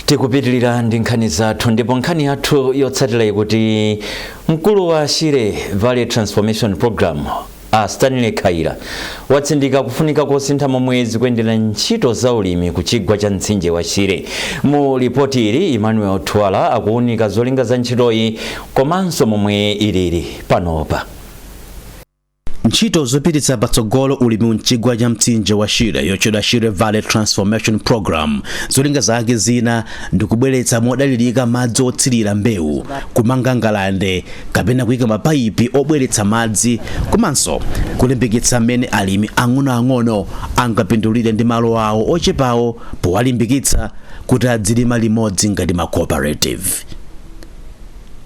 tikupitirira ndi nkhani zathu ndipo nkhani yathu yotsatira ikuti mkulu wa shire valley transformation program A Stanley Khaila atsindika kufunika kosintha momwe zikuyendera ntchito za ulimi ku chigwa cha mtsinje wa Shire. Mu lipoti ili, Emmanuel Twala akuwunika zolinga za ntchitoyi komanso momwe ilili panopa. Ntchito zopititsa patsogolo ulimi mchigwa cha mtsinje wa Shire yotchedwa Shire Valley Transformation Programme zolinga zake zina ndikubweretsa modalirika madzi othirira mbewu, kumanga ngalande kapena kuika mapaipi obweretsa madzi komanso kulimbikitsa mmene alimi ang'onoang'ono angapindulire ndi malo awo ochepawo powalimbikitsa kuti adzilima limodzi ngati ma cooperative.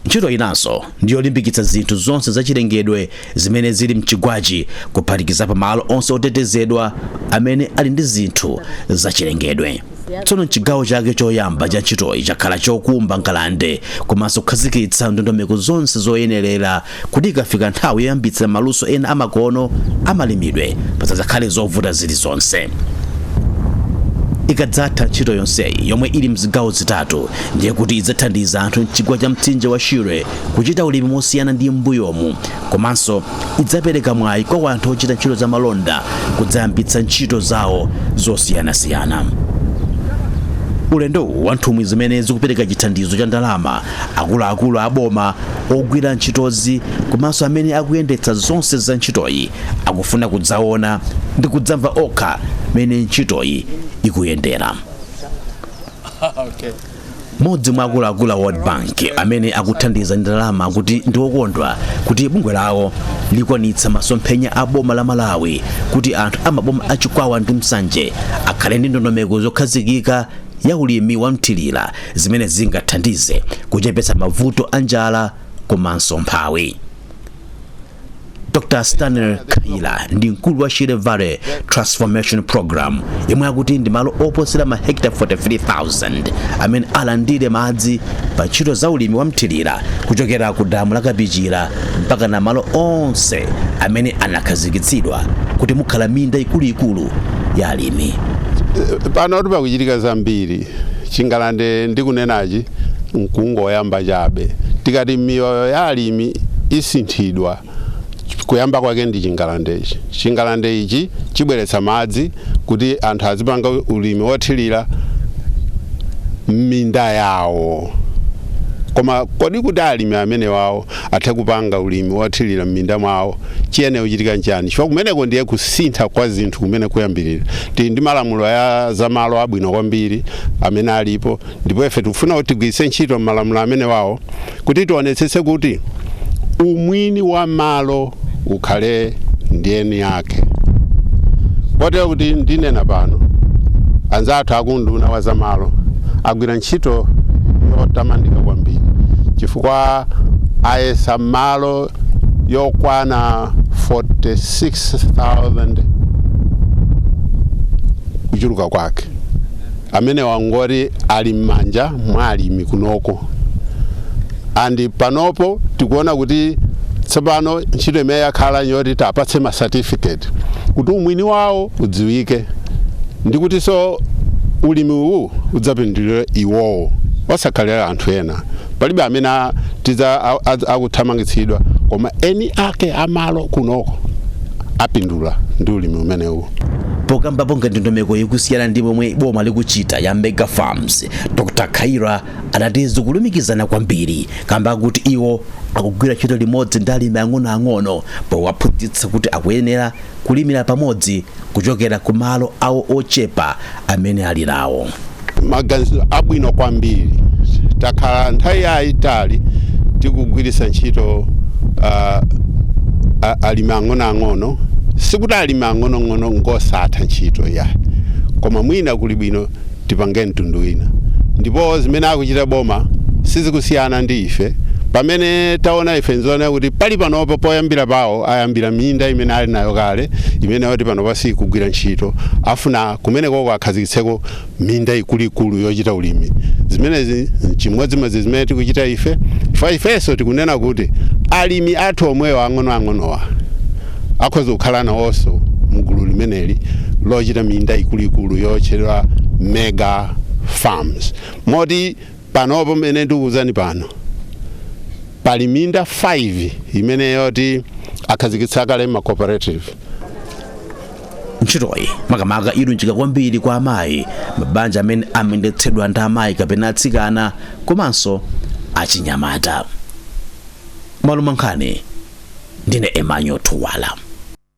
Ntchito inanso ndi yolimbikitsa zinthu zonse zachilengedwe zimene zili m'chigwachi kuphatikizapo malo onse otetezedwa amene ali ndi zinthu zachilengedwe. Tsono m'chigawo chake choyamba cha ntchitoyi chakhala chokumba ngalande komanso kukhazikitsa ndondomeko zonse zoyenerera kuti ikafika nthawi yoyambitsa maluso ena amakono a malimidwe pasadzakhale zovuta zilizonse. Ikadzatha ntchito yonseyi yomwe ili m'zigawo zitatu, ndiye kuti idzathandiza anthu m'chigwa cha mtsinje wa Shire kuchita ulimi mosiyana ndi m'mbuyomu komanso idzapereka mwayi kwa wanthu ochita ntchito za malonda kudzayambitsa ntchito zawo zosiyanasiyana. Ulendowu wa nthumwi zimene zikupereka chithandizo cha ndalama, akuluakulu a boma, ogwira ntchitozi komanso amene akuyendetsa zonse za ntchitoyi akufuna kudzaona ndi kudzamva okha mmene ntchitoyi ikuyendera. Mmodzi mwa akuluakulu a World Bank amene akuthandiza ndi ndalama akuti ndi okondwa kuti bungwe lawo likwanitsa masomphenya a boma la Malawi kuti anthu a maboma a Chikwawa ndi Nsanje akhale ndi ndondomeko zokhazikika ya ulimi wa mthirira zimene zingathandize kuchepetsa mavuto a njala komanso umphawi. dr stanley khaila ndi mkulu wa shire valley transformation program yemwe akuti ndi malo oposera mahekita 43000 amene alandire madzi pa ntchito za ulimi wa mthirira kuchokera ku damu la kapichira mpakana malo onse amene anakhazikitsidwa kuti mukhala minda ikuluikulu ya alimi pano kuti pakuchitika zambiri Chingalande ndikunenachi nkungoyamba chabe. Tikati miyoyo ya alimi isinthidwa, kuyamba kwake ndi chingalandechi. Chingalande ichi chibweretsa madzi kuti anthu azipanga ulimi wothirira m'minda yawo. Koma kodi kuti alimi amenewawo athe kupanga ulimi wothirira m'minda mwawo, chiyenera kuchitika nchiyani? Chifukwa kumeneko ndiye kusintha kwa zinthu kumene kuyambirira. Tili ndi malamulo ya za malo abwino kwambiri amene alipo, ndipo ife tikufuna kuti tigwiritse ntchito malamulo amenewawo kuti tionetsetse kuti umwini wa malo ukhale ndi eni ake. Kotero kuti ndinena pano, anzathu akunduna wa zamalo agwira ntchito yotamandika kwambiri chifukwa ayesa malo yokwana 46,000 kuchuluka kwake amene wa oti ali m'manja mwa alimi kunoko and panopo tikuona kuti tsopano ntchito imene yakhala yoti tiwapatse ma certificate kuti umwini wawo udziwike ndi kutinso ulimi uwu udzapindulire iwowo osakhala anthu ena. Palibe amene adzathamangitsidwa koma eni ake a malo kunoko apindula ndi ulimi umenewu. Pokambapo ngati ndondomeko ikusiyana ndi momwe boma likuchita ya Mega Farms, Dr Khaila adati zikulumikizana kwambiri kamba kuti iwo akugwira ntchito limodzi ndi alimi ang'onoang'ono powaphunzitsa kuti akuyenera kulimira pamodzi kuchokera ku malo awo ochepa amene ali nawo maganizo abwino kwambiri takhala nthawi yayitali tikugwiritsa ntchito uh, alimi ang'onoang'ono sikuti alimi ang'onoang'ono ngosatha ntchito ayi koma mwina kuli bwino tipange mtundu wina ndipo zimene akuchita boma sizikusiyana ndi ife pamene taona ife nzoona kuti pali panopa poyambira pawo ayambira minda imene ali nayo kale imene yoti panopa sikugwira ntchito afuna kumenekoko akhazikitseko minda ikuluikulu yochita ulimi zimenezi chimodzimodzi zimene tikuchita ife chifukwa ifenso tikunena kuti alimi athu omwewo ang'onoang'onowa akhoza kukhala nawonso mgulu limeneli lochita minda ikuluikulu yotchedwa mega farms moti panopo mene ndikuwuzani pano pali minda 5 imene yoti akhazikitsa kale ma cooperative ntchitoyi makamaka ilunjika kwambiri kwa amayi mabanja amene amayendetsedwa ndi amayi kapena atsikana komanso achinyamata Mwaluma nkhani ndine Emmanuel Thuwala.